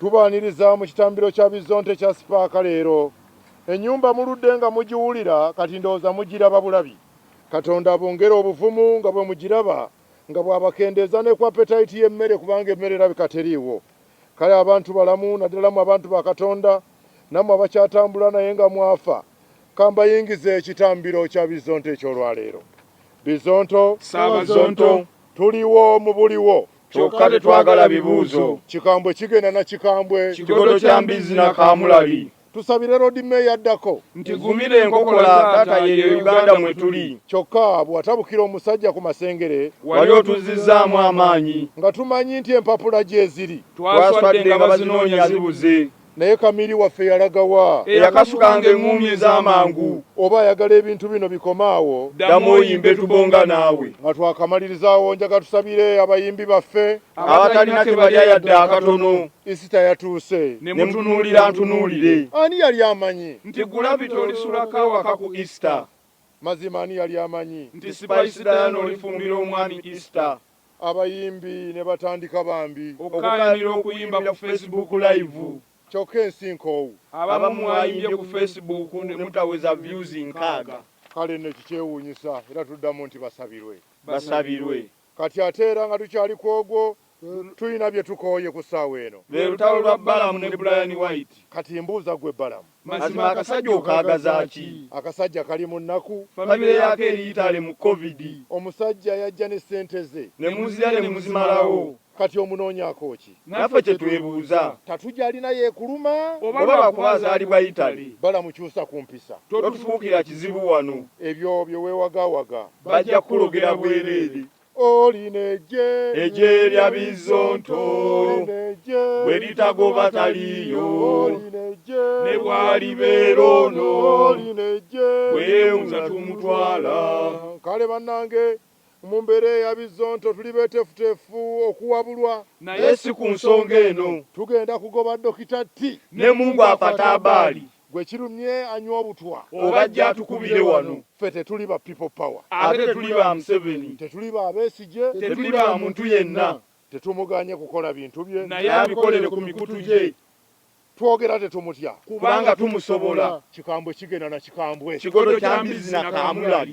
Tubaaniriza mu kitambiro kya Bizzonte ekya Sipaaka leero. Ennyumba muludde nga mugiwulira kati ndowooza mugiraba bulabi. Katonda abongere obuvumu nga bwe mugiraba nga bw'abakendeeza ne ku apetayiti y'emmere kubanga emmere erabika teriiwo. Kale abantu balamu naddala mmwe abantu ba Katonda nammwe abakyatambula naye nga mwafa. Ka mbayingize ekitambiro kya Bizzonto eky'olwaleero. Bizzonto. Ssaabazonto. Tuliwo mu buliwo. kyokka tetwagala bibuuzo. Kikambwe kigenda na kikambwe. Kigodo kya mbizzi na kaamulali. Tusabire Loodi Meeya addako. Nti gumira enkokola taata yeeyo Uganda mwe tuli. Kyokka bw'atabukira omusajja ku masengere. Wali otuzzizzaamu amaanyi. Nga tumanyi nti empapula gyeziri. Twaswadde nga bazinoonya zibuze. Naye Kamili waffe yalaga wa? Eyakasukanga eng'uumi ez'amangu. Oba ayagala ebintu bino bikome awo. Ddamu oyimbe tubonga naawe. Nga twakamaliriza awo njaga tusabire abayimbi baffe. Abatalina ke balya yadde akatono. Isita yatuuse. Ne mutunuulira ntunuulire. Ani yali amanyi. Nti Gulavity olisulako awaka ku Isita. Mazima ani yali amanyi. Nti Spice Diana olifumbira omwami Isita. Abayimbi ne batandika bambi. Okukaayanira okuyimba ku Face Book Live. Kyokka ensi nkoowu. Abamu mwayimbye ku Face Book ne mutaweza Views nkaaga. Kale nno ekikyewuunyisa era tuddamu nti basabirwe. Basabirwe. Kati ate era nga tukyali ku ogwo, tulina bye tukooye ku ssaawa eno. Lwe lutalo lwa Balamu ne Bryan White. Kati mbuuza ggwe Balamu, Mazima akasajja okaagaza ki? Akasajja kali mu nnaku. Family yaako eri Italy mu covid. Omusajja yajja ne ssente ze. Ne muzirya ne muzimalawo. Kati omunoonyaako ki? Naffe kye twebuuza. Tatu gy'alina y'ekuluma? Oba lwa kuba azaalibwa Italy? Balamu kyusa ku mpisa. Totufuukira kizibu wano. Ebyo bye weewagaawaga. Bajja kukulogera bwereere. olina eggye eggye lya bizzonto bwe litagoba taliiyo ne bwalibeera ono bweyewunza tumutwala kale bannange mu mbeera eya bizzonto tuli betefutefu okuwabulwa naye si ku nsonga eno tugenda kugoba dokita ti ne mungu afatabaali Gwe kirumye anywa obutwa. Oba ajje atukubire wano. Ffe tetuli ba people power. Ate tetuli ba museveni. Tetuli ba besigye. Tetuli ba muntu yenna. Tetumuganye kukola bintu bye. Naye abikolere ku mikutu gye. Twogera tetumutya. Kubanga tumusobola. Kikambwe kigenda na kikambwe. Kigodo kya mbizi na kamulali.